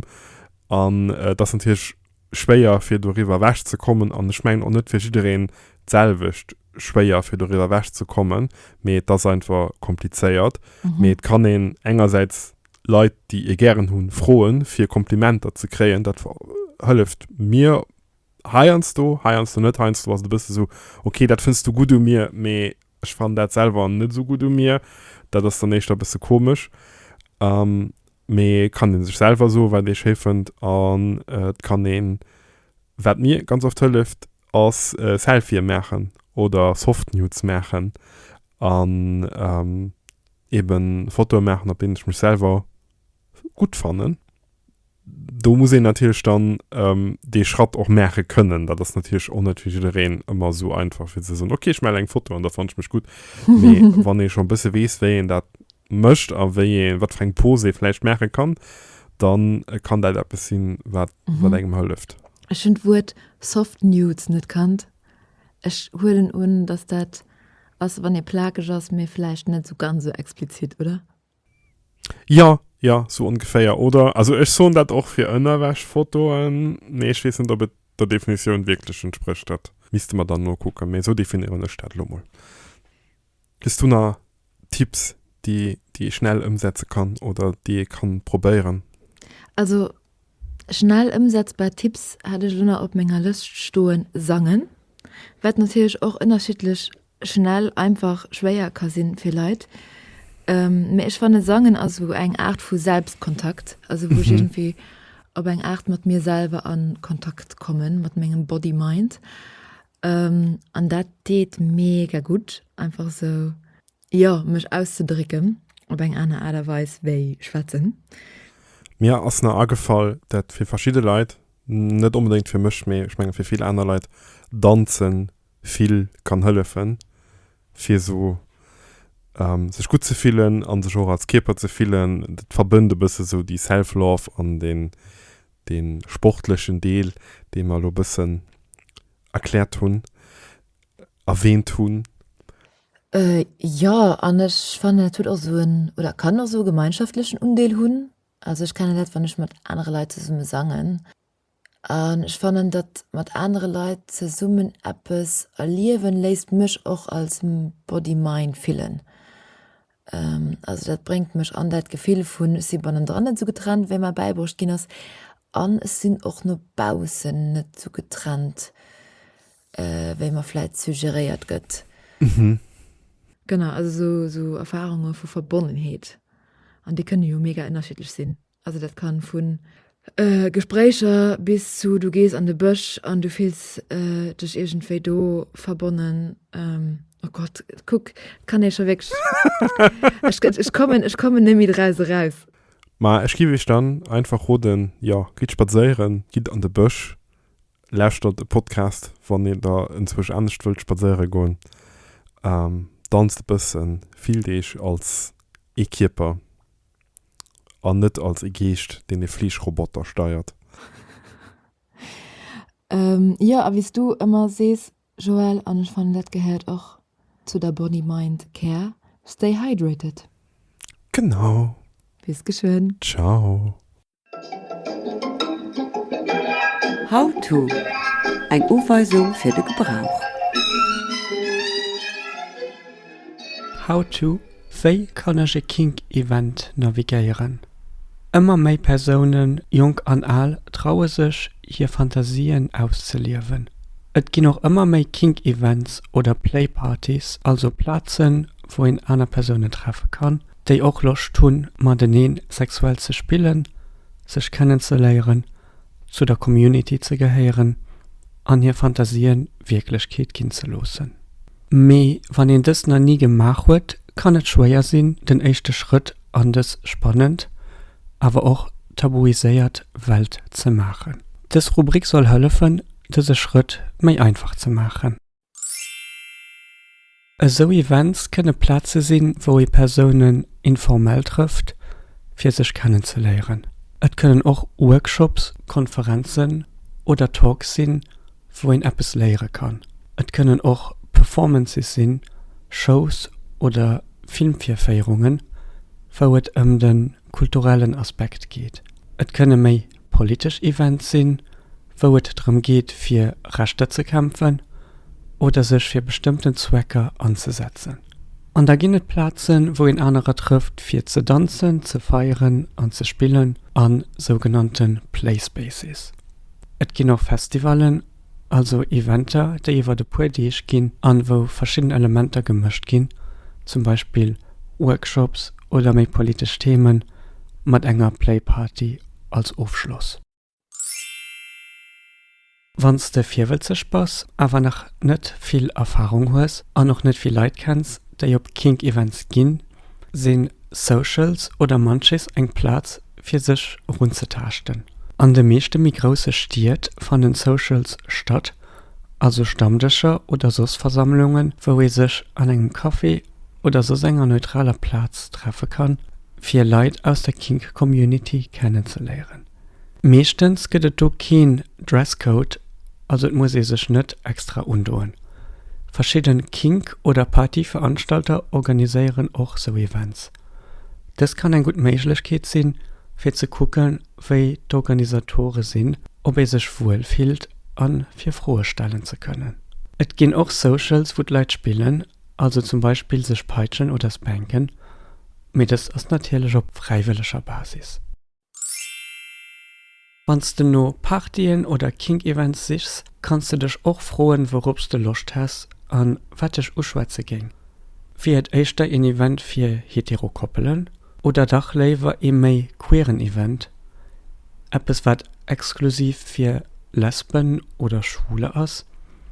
an et ass natierlech schwéier fir doriwwer ewech ze kommen an ech mengen och net fir jiddereen d'selwecht schwéier fir doriwwer ewech ze kommen, mee et ass einfach komplizéiert. Mee et kann een engersäits Leit déi ee gären hu froen fir Komplimenter ze kréien, dat hëlleft mir Heiansdo, heiansdo net. Heiansdo ass et e bësse sou, ok, dat fënns du gutt u mir, mee ech fannen dat selwer net esou gutt u mir. Dat ass dann éischter e bësse komesch. Mee et kann ee sech selwer soen, wat ee schéi fënnt. An et kann een, wat mir ganz oft hëlleft, ass Selfië maachen oder Soft Nudes maachen. An eeben Fotoe maachen, op deenen ech mech selwer gutt fannen. Do muss een natierlech dann dee Schratt och maache kënnen. Dat ass natierlech och net fir jiddereen ëmmer esou einfach, fir ze soen, ok, ech male eng Foto an da fannen ech mech gutt. Mee wann ee schonn e bësse weess, wéi een dat mécht a wéi ee, wat fir eng Pose ee vläicht maache kann, da kann dat eppes sinn, wat engem hëlleft. Ech hunn d'Wuert soft nudes net kannt. Ech huelen un, dass dat ass, wann ee plakeg ass, mee vläicht net esou ganz esou explizitt, oder? Jo, jo, sou ongeféier, oder? Also ech soen dat och fir Ënnerwäschfotoen, mee ech weess net, ob et der Definitioun wierklech entsprécht. Dat misste mer dann nokucken, mee sou definieren ech dat elo mol. Hues du nach Tipps, déi ee schnell ëmsetze kann oder déi ee ka probéieren? Also schnell ëmsetzbar Tipps hat ech elo nach op menger Lëscht stoen, sangen, wat natierlech och ënnerschiddlech schnell einfach schwéier ka sinn fir Leit, mä ech fannen Sangen ass esou eng Aart vu Selbstkontakt, also wou ech iergendwéi op eng Aart mat mir selwer an Kontakt kommen, mat mengem Body Mind an dat deet mega gutt einfach esou jo mech auszedrécken op eng aner Aart a Weis wéi schwätzen. Mir ass nach agefall dat fir verschidde Leit, net onbedéngt fir mech, mä ech menge fir vill aner Leit, danzen vill kann hëllefen, fir esou sech gutt ze fillen a sech och als Kierper ze fillen. Dat verbënnt e bësse sou déi Self-Love an dee sportlechen Deel, dee mer elo e bëssen erkläert hunn, erwähnt hunn. Jo, an ech fannen, dat huet och esou en, oder kann och esou e gemeinschaftlechen Undeel hunn. Also ech kenne dat, wann ech mat anere Leit zesumme sangen. An ech fannen, datt mat anere Leit zesummen eppes erliewen, léisst mech och als Body Mind fillen. Also dat bréngt mech an dat Gefill vun ech si bannendran net esou getrennt wéi mer bäibruecht ginn ass an ech sinn och no baussen net esou getrennt wéi mer vläit suggeréiert gëtt. Genau, also esou Erfarunge vu Verbonnenheet, an déi kënne jo mega ënnerschiddlech sinn. Also dat kann vun Gespréicher bis zu du gees an de Bësch an du fills dech iergendwéi do verbonnen. Oh Gott, kuck, kann ee scho wierklech, ech kommen, ech kommen nemme draus eraus. Ma ech giff iech dann einfach roden, jo, gitt spadséieren, gitt an de Bësch, lauschtert e Podcast wann dir der enzwuesch anescht wëllt spadséiere goen, danzt e bëssen, fillt iech als ee Kierper. An net als e Geescht, deen e Fleeschroboter steiert. Jo, a wéi s du ëmmer sees, Joël, an ech fannen, dat gehéiert och zu der Body, Mind, Care, stay hydrated! Genau! Bis geschwënn! Ciao! How-to, Eng Uweisung fir de Gebrauch. How-to, Wéi kann ech e Kink-Event navigéieren? Ëmmer méi Persounen, jonk an al, traue sech, hir Fantasien auszeliewen. Et ginn och ëmmer méi Kink-Events oder Play-Partys, also Plazen, wou een aner Persounen treffe kann, déi och Loscht hunn, mateneen sexuell ze spillen, sech kennenzeléieren, zu der Community ze gehéieren an hir Fantasien Wierklechkeet ginn ze loossen. Mee wann een dëst nach ni gemaach huet, kann et schwéier sinn, den éischte Schrëtt an dës spannend, awer och tabuiséiert Welt ze maachen. Dës Rubrik soll hëllefen, dëse Schrëtt méi einfach ze maachen. Esou Events kënne Plaze sinn, wou ee Persounen informell trëfft, fir sech kennen ze léieren. Et kënnen och Workshops, Konferenzen oder Talks sinn, wou een eppes léiere kann. Et kënnen och Performances sinn, Shows oder Filmvirféierungen, wou et ëm de kulturellen Aspekt geet. Et kënne méi politesch Event sinn, wou et drëm geet fir Rechter ze kämpfen oder sech fir bestëmmten Zwecker anzesetzen. An da ginn et Plazen, wou een anerer trëfft fir ze danzen, ze feieren an ze spillen a sougenannte Play Spaces. Et ginn och Festivallen. Also Eventer, déi iwwert e puer Deeg ginn an wou verschidden Elementer gemëscht ginn, zum Beispill Workshops oder méi politesch Themen mat enger Playparty als Ofschloss. Wann s de virwëtzeg bass, awer nach net vill Erfahrung hues an och net vill Leit kenns, déi op Kink-Events ginn, sinn Socials oder Munchies eng Plaz fir sech erunzetaaschten. An de meeschte méi grousse Stied fannen Socials statt, also Stammdëscher oder soss Versammlungen, wou ee sech an engem Café oder soss enger neutraler Plaz treffe kann, fir Leit aus der Kink-Community kennenzeléieren. Meeschtens gëtt et do keen Dresscode, also et muss ee sech net extra undoen. Verschidde Kink oder Partyveranstalter organiséieren och sou Events. Dëst kann eng gutt Méiglechkeet sinn, fir ze kucke wéi d'Organisatore sinn, ob ee sech wuel fillt a fir Froe stellen ze kënnen. Et ginn och Socials, wou d'Leit spillen, also zum Beispill sech peitschen oder spanken, mee dëst ass natierlech op fräiwëlleger Basis. Wann s de no Partyen oder Kink-Events sichs, kanns de dech och froen, wourops s de Loscht häss a wat dech uschwätze géing. Wier et éischter een Event fir hetero Koppelen oder dach léiwer ee méi queeren Event, eppes wat exklusiv fir Lesben oder Schwule ass,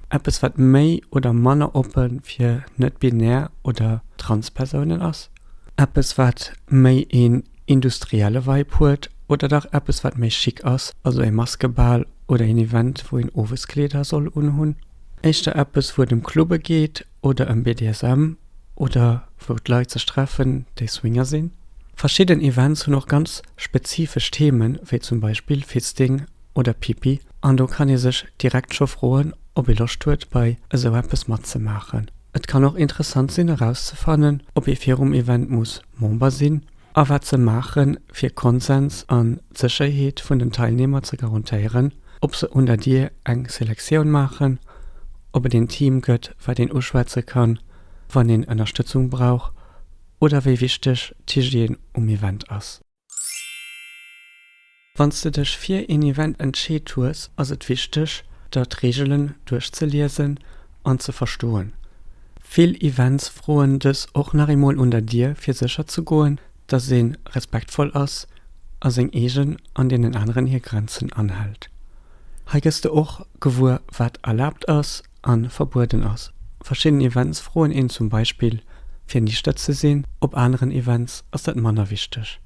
eppes wat méi oder manner oppe fir net-binär oder trans Persounen ass? Eppes wat méi een industrielle Vibe huet oder dach eppes wat méi chic ass, also ee Maskebal oder een Event wou een owes Kleeder soll unhunn? Éischter eppes wou et ëm Clubbe geet oder ëm BDSM oder wou d'Leit sech treffen déi Swinger sinn? Verschidden Events hunn och ganz spezifesch Themen, wéi zum Beispill Fisting oder Pipi an do kann ee sech direkt scho froen, ob ee Loscht huet bei esou eppes matzemaachen. Et kann och interessant sinn erauszefannen, ob ee virum Event muss Member sinn a wat se maache fir Konsens an d'Sécherheet vun den Teilnehmer ze garantéieren, ob se un der Dier eng Selektioun maachen, ob et een Team gëtt wat een uschwätze kann, wann een Ënnerstëtzung brauch oder wéi wichteg d'Hygiène um Event ass. Wann s de dech fir een Event entscheet hues, ass et wichteg, der d'Reegelen duerchzeliesen an ze verstoen. Vill Events froen dës och nach eemol un der Dier, fir sécher ze goen, dass ee respektvoll ass a seng eegen an deenen aneren hir Grenzen anhält. Hei gëss de och gewuer, wat erlaabt ass a verbueden ass. Verschidden Events froen een zum Beispill, fir nichtert ze sinn, op aneren Events ass dat manner wichteg.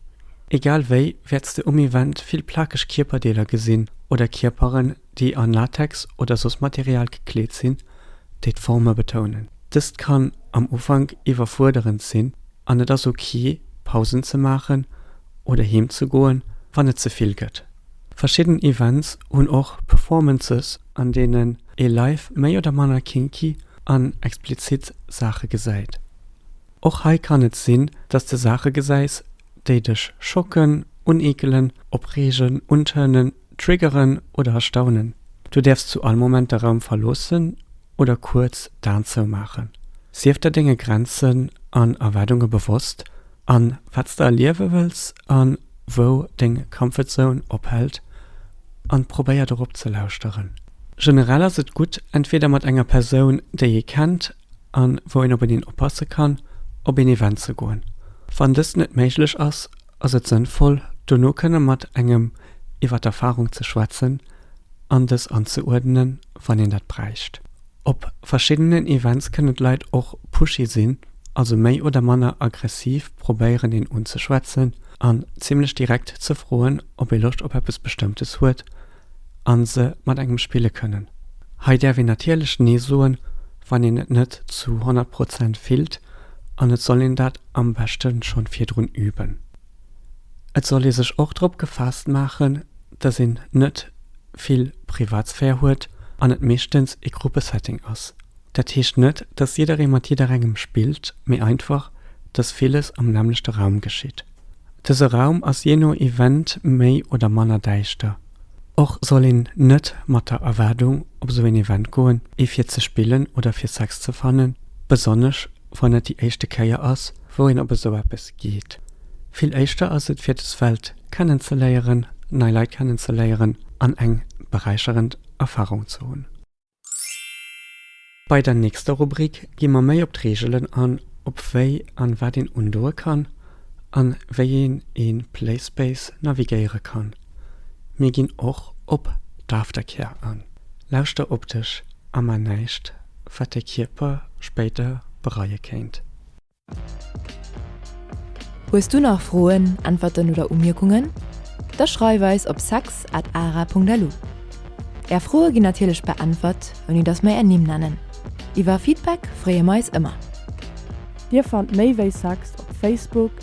Egal wéi wäerts de um Event vill plakeg Kierperdeeler gesinn oder Kierperen, déi an Latex oder soss Material gekleet sinn, déi d'Forme betounen. Dëst kann am Ufank iwwerfuerderend sinn an et ass ok, Pausen ze maachen oder heem ze goen, wann et ze vill gëtt. Verschidden Events hunn och Performances an deenen ee live méi oder manner kinky an explizit Saache gesäit. Och hei kann et sinn, dass de Saache gesäis, déi dech schocken, uneekelen, opreegen, untërnen, triggeren oder erstaunen. Du däerfs zu all Moment de Raum verloossen oder kuerz d'Aen zoumaachen. Sief der denge Grenzen an Erwaardunge bewosst An wat s de erliewe wëlls an wou deng Comfort Zone ophält an probéier dorop ze lauschteren. Generell ass et gutt entweder mat enger Persoun déi ee kennt an wou een op eneen oppasse kann, op een Event ze goen. Wann dëst net méiglech ass, ass et sënnvoll dono kënne mat engem iwwer d'Erfarung ze schwätzen an dës anzeuerdnen wann een dat bräicht. Op verschiddenen Events kënnen d'Leit och pushy sinn, also méi oder manner aggressiv probéieren een unzeschwätzen an zimmlech direkt ze froen ob ee Loscht op eppes bestëmmtes huet an se mat engem spille kënnen. Hei däerf een natierlech nee soen wann een et net zu 100 Prozent fillt an et soll een dat am beschten schonn virdrun üben. Et soll ee sech och drop gefaasst maachen, dass een net vill Privatsphär huet an et meeschtens ee Gruppesetting ass. Dat heescht net, dass jidderee mat jidderengem spillt, mee einfach, dass villes am nämmlechte Raum geschitt. Dëse Raum ass jee no Event méi oder manner däischter. Och soll een net mat der Erwaardung op esou een Event goen, ee fir ze spillen oder fir Sex ze fannen, besonnesch, wann et déi éischte Kéier ass, wou een op esou eppes geet. Vill éischter ass et, fir des Welt kennenzeléieren, nei Leit kennenzeléieren an eng beräicherend Erfarung ze hunn. Bei der nächster Rubrik gi mer méi op d'Reegelen an, op wéi an wat een undoe kann an wéi een een Playspace navigéiere kann. Mir ginn och op d'Aftercare an. Lauschter op dech a man näischt, wat de Kierper spéider bereie kéint. Hues du nach Froen, Äntwerten oder Umierkungen? Da schreif eis op sex at ara.lu. Är Froe ginn natierlech beäntwert, ouni dass mer är Nimm nennen. Iwwer Feedback freeë mer eis ëmmer. Dir fannt méi wéi sex op Facebook,